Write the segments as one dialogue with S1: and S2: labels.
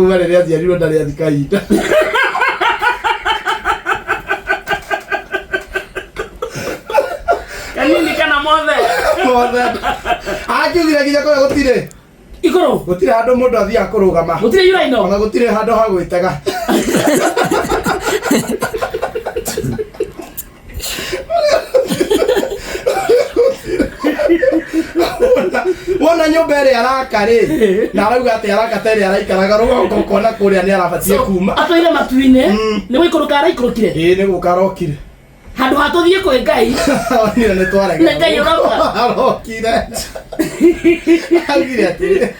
S1: Uma rĩrĩa aciarirwo ndarĩ athi kahinda.
S2: kanini kana mothe Mothe. Akiugire
S1: nginya kũrĩa gũtirĩ. igũrũ Gũtirĩ
S2: handũ mũndũ
S1: athiaga kũrũgama. gũtirĩ yuraino Ona gũtirĩ
S2: handũ ha
S1: gwĩtega. Wona- wona nyumba ĩrĩa araka rĩ na arauga atĩ araka ta ĩrĩa araikaraga rũgongo ũkona kũrĩa nĩ arabatie kuma atwaire matu-inĩ Mm.
S2: nĩ gũikũrũka araikũrũkire ĩĩ nĩ gũka arokire
S1: handũ ha tũthiĩ
S2: kwĩ ngai onire nĩ twarega
S1: Nĩ Ngai ũroka.
S2: arokire
S1: augire atĩrĩ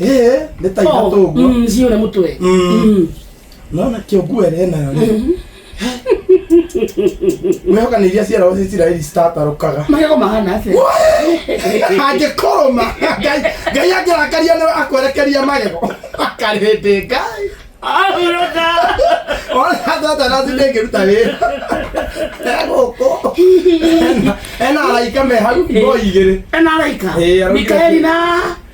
S2: Eh,
S1: nĩ ta ithatũ ũguo. Mm, sio na mutwe. Mm. Mm. Naona kĩongu ere nayo rĩ. Mwĩhoka nĩ iria ciarago cia Isiraeli citatarũkaga. Magego mahana
S2: atĩa? Angĩkorwo ma
S1: Ngai Ngai angĩrakaria nĩwe akwerekeria magego. Akarĩndĩ Ngai. Ahuruka. Ona thota na thinde ngĩruta wĩra. Egũkũ. Ena- Ena araika me hau ngoi igĩrĩ. Ena araika. Eh,
S2: araika. Mikaeli na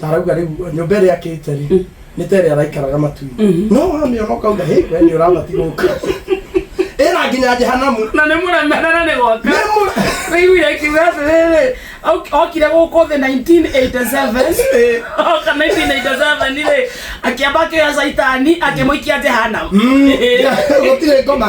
S1: na arauga rĩu nyũmba ĩrĩa akĩte rĩ nĩ ta ĩrĩa araikaraga matu no hamĩona ũkauga hĩ we nĩ ũrabati gũka ĩra nginya jehanamu na nĩ mũremera na
S2: nĩ gwaka Nĩ mũre- wĩiguire akiuga atĩrĩrĩ ok- okire gũkũ thĩ 1987 oka 1987 rĩ akĩamba akĩoya caitani akĩmũikia jehanamu
S1: gũtirĩ ngoma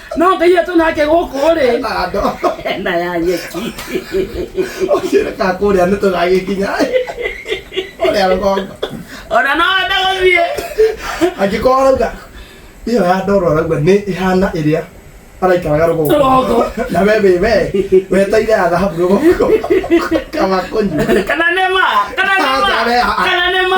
S2: no ngai atå nake gå kå rä na ya nyeki
S1: ũkĩreka kũrĩa nĩ tũgagĩkinya ũrĩa rũgongo ona no wende
S2: gå thiä angĩkorwo
S1: arauga ĩyo ya ndoro arauga nĩ ĩhana ĩrĩa araikaraga rũgongo Rũgongo. na we wĩ we weteire ya thahabu rũgongo kama kũnyua kana nä ma
S2: kana nä ma kana nä ma